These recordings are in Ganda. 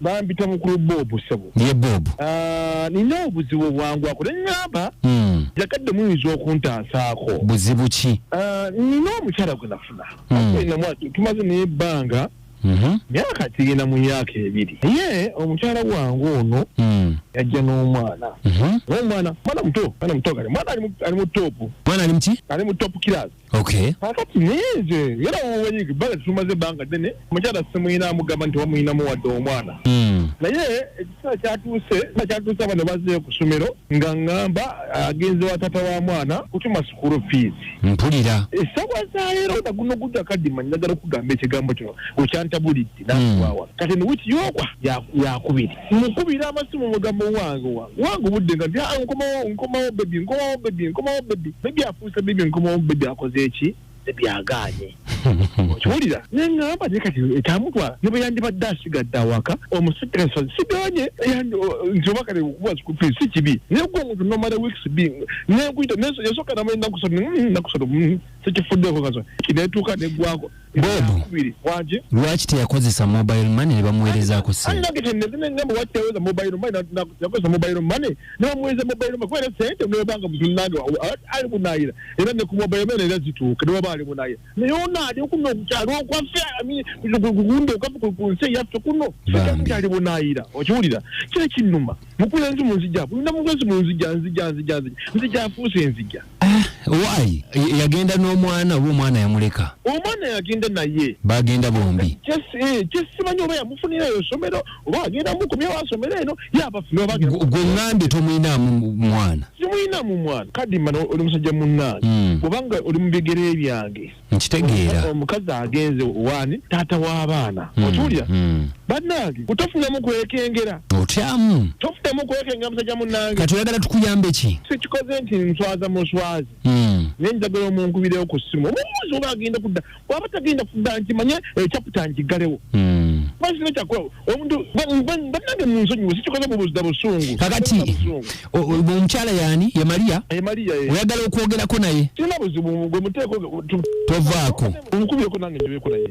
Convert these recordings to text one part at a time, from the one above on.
bampita mukulu bobu sebo ye bobu ah, nina obuzibu obwangwako nenyamba hmm. jagadde muyinza okuntansaako buzibu ki ah, nina omukyala gwe nafuna hmm. tumaze naye ebbanga mhm. myaka kigenda mu myaka ebiri naye omukyala wange ono hmm. yajja n'omwana mhm. omwana mwana muto mwana muto kale mwana ali mu topu mwana ali muki ali mu topu kirasi okay kakati nze era woweyiga bala tumaze ebbanga ddene omukyala simuyina amugamba nti wamuyinamu wadde omwana mm. naye ekiseera kyatuuse a kyatuuse abano bazeeyo ku ssomero nga ŋŋamba agenze wa taata wa mwana kutuma sukulu fiizi mpulira esawa zaleero nga guno gujja kadima njagala okugamba ekigambo kino okyantabulidde nakuwawa mm. kati newiki yokwa yakubiri mukubira amasimu mugamba owange owange owange obudde nga nti ah, nkomawo nkomawo bebi nkomawo bebi nkomawo bebi bebi afuuse bebi nkomawo bebi akoze eki bebi agaanye okiwulira neŋamba naye kati ekyamutwala ne bwe yandibadde asigadde awaka omusajja siganye nti oba kale okuba kikufi si kibi naye gwe omuntu nomala weeks bi nekuyita yasooka namala ennaku satu ennaku satu sikifuddeko kaso kinetuuka neggwako lwaki teyakozesa mobile money nebamuwerezaako senteweza mobile money nebamuwereza mobile money kubera sente nebanga mutunange ali bunayira era ne ku mobile money era zituuka nebaba ali bunayira naye ona ali kuno okukyalo okwaffe kundi okwaffe ku nsi eyaffe kuno ali bunayira okiwulira kyekinuma mukulenzi munzija bulina mukulenzi munzija nzija nzija nzija nzija afuuse enzija ah, why yagenda n'omwana oba omwana yamuleka omwana yagenda naye bagenda bombi kyesimanyi eh, oba yamufunira eyo somero oba agenda mukomyewo asomero eno yabafugwe ngambye tomuyinamu mwana simuyinamu mwana kadimana oli musajja munnange hmm. obanga oli mu bigere byange nkitegeera omukazi agenze waani taata w'abaana hmm, otuulya hmm. bannange kutofunamu kwekengera otyamu tofunamu kwekengera musajja munnange kati oyagala tukuyambe ki sikikoze nti nswaza muswazi hmm. naye njagala omunkubirewo ku ssimu omubuuzi oba agenda kudda waba tagenda kudda nkimanye ekyaputa eh, nkiggalewo basina kyakola omuntu banange munsonyiwe sikikoze mubuzda busungu kakati omukyala yani ye maria eh. oyagala okwogerako naye kirina buzibu gwe muteeko tovaako omukubyeko nange njoyeko naye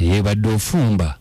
Ye badde ofumba.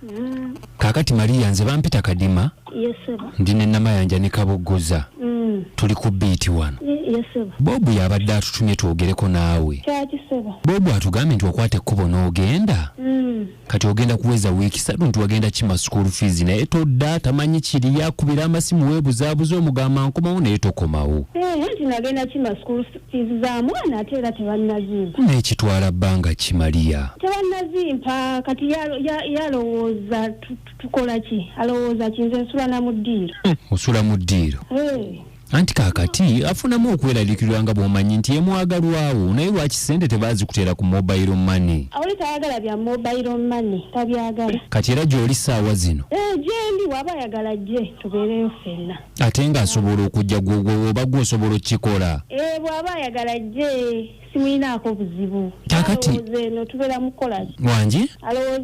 Mm. Kakati Maria nze bampita kadima. Yes sir. Ndi ne nama yanja ne kaboggoza. Mm. Tuli ku beat wano. Yes sir. Bobu yabadde atutumye twogereko naawe. Kyaki sir. Bobu atugambye nti okwate kubo n'ogenda. Mm. Kati ogenda kuweza wiki satu nti wagenda kima school fees naye todda tamanyi kiri yakubira amasimu webuzabuza omugamba nkomawo naye tokomawo. Eh, nti nagenda kima school fees. Fiizi za mwana ate era tebannazimpa. Naye kitwala bbanga ki Maria? Tebannazimpa kati ye alowooza tukola ki? Alowooza ki nze nsula na mu ddiiro. Hmm, osula mu ddiiro? Eh. Anti kaakati afunamu okweraliikirwa nga bw'omanyi nti yemwagalwawo naye lwaki ssente tebaazikuteera ku mobile money? Oli tayagala bya mobile money tabyagala. Kati era gy'oli ssaawa zino? Eh, gyendi waba ayagala ajje tubeereyo ffenna. ate nga asobola okujja gwoba gwosobola okukikola eh, bwaba ayagala ajje simuyinaako buzibu alowooza eno tubeera mukukolaki wangi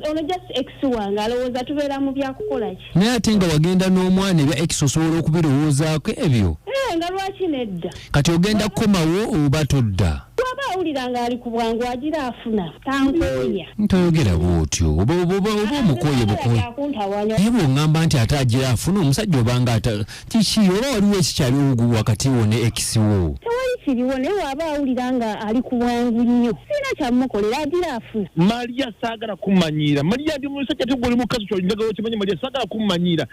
ono just ex wange alowooza tubeera mu byakukolaki naye ate nga wagenda n'omwana ebya ex osobola okubirowoozaako ebyo eh, nga lwaki nedda kati ogenda kukomawo oba todda bwaba awulira ng'ali ku bwangu agira afuna tankooya ntoyogera bwotyo oba oba- oba- oba omukoye bukoye akuntawanya naye bwongamba nti ate agira afuna omusajja obanga ata kiki oba waliwo ekikyali ogu wakati wo ne ekisi wo tewali kiriwo naye waba awulira nga ali ku bwangu nnyo sirina kyamukolera agira afuna maria saagala kumanyiira maria ndi musajja tegwe oli mukazi kyolinjagala okimanyi maria saagala kumanyiira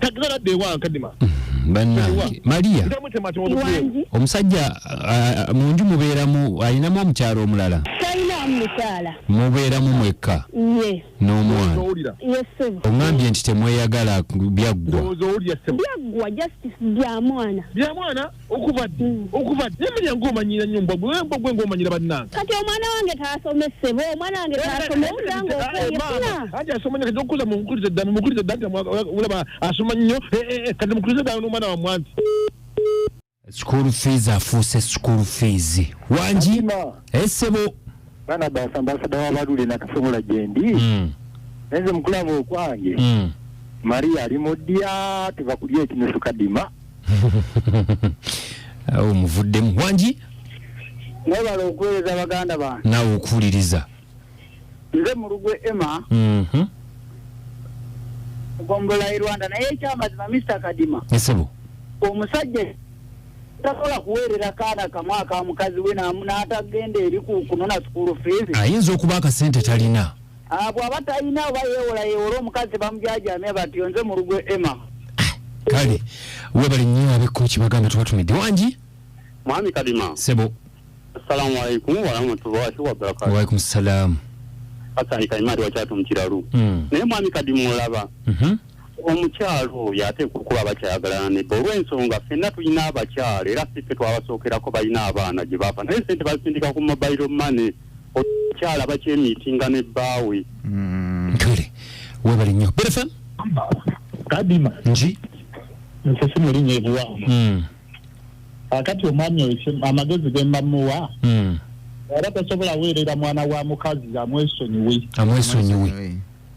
tagala de wa kadima mm-hmm. banange maria omusajja munju mubeeramu alinamu omukyalo omulala mubeeramu mwekka n'omwana oŋambye nti temweyagala byaggwa okuva ddi okuva ddi naye manya ng'omanyira nnyo mbwa gwe mbwa gwe ng'omanyira bannange kati omwana wange taasome ssebo omwana wange taasome owulira ng'okweyefuna anti asoma nnyo kati okukuza mumukulize dda mumukulize dda nti olaba asoma nnyo eh, eh, eh, kati mukulize dda n'omwana wa mwanti school fees afuuse school fees wangi esebo bana basa ambasada wabalule nakasobola gyendi hmm. naye nze mukulaba okwange hmm. maria ali mu ddya tuva kulya ekinusu kadima awo muvuddemu wangi mwebala okuweereza baganda bange naawe okuwuliriza nze mulugwe emma mhm. gombola e rwanda naye ekyamazima mister kadima esebo omusajja tasobola kuweerera kaana kamu aka mukazi we n'atagenda eri kunona sukulu fiizi ayinza okuba akasente talina Ah, bwaba talina oba yewola yewola omukazi bamujajamya batyo nze mulugwe emma kale webale nnyo abekko kibagamba tubatumidde wangi mwami kadima sebo assalamu alaikum warahmatullahi wabarakatu waalaikum salaamu hasani kaimari wakyatu mu kiralu Mm. naye mwami kadima olaba Mhm. omukyalo oyo ateekwa okuba abakyayagala nebba olw'ensonga fenna tulina abakyalo era si ffe twabasookerako balina abaana gye baava naye sente bazisindika ku mobile money okyala bakyemiitinga ne bbaawe mm. kale webale nnyo berefem kadima nji nsisi muli nyebuwamu mm. akati omwami oyo amagezi gembamuwa mm. era tasobola weerera mwana wa mukazi amwesonyiwe amwesonyiwe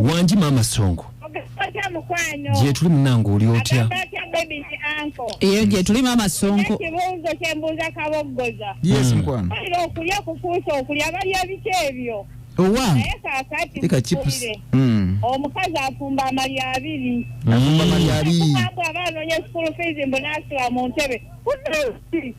wangi maama songo gyetuli munange oli otya eyo gyetuli maama songo ekibuuzo kyembuuza kaboggoza yes hmm. mukwano okulya kufuusa okulya balya biki ebyo owa naye kakati hmm. omukazi afumba amali abiri afumba amali abiri abaana onye school fees mbu nasula mu ntebe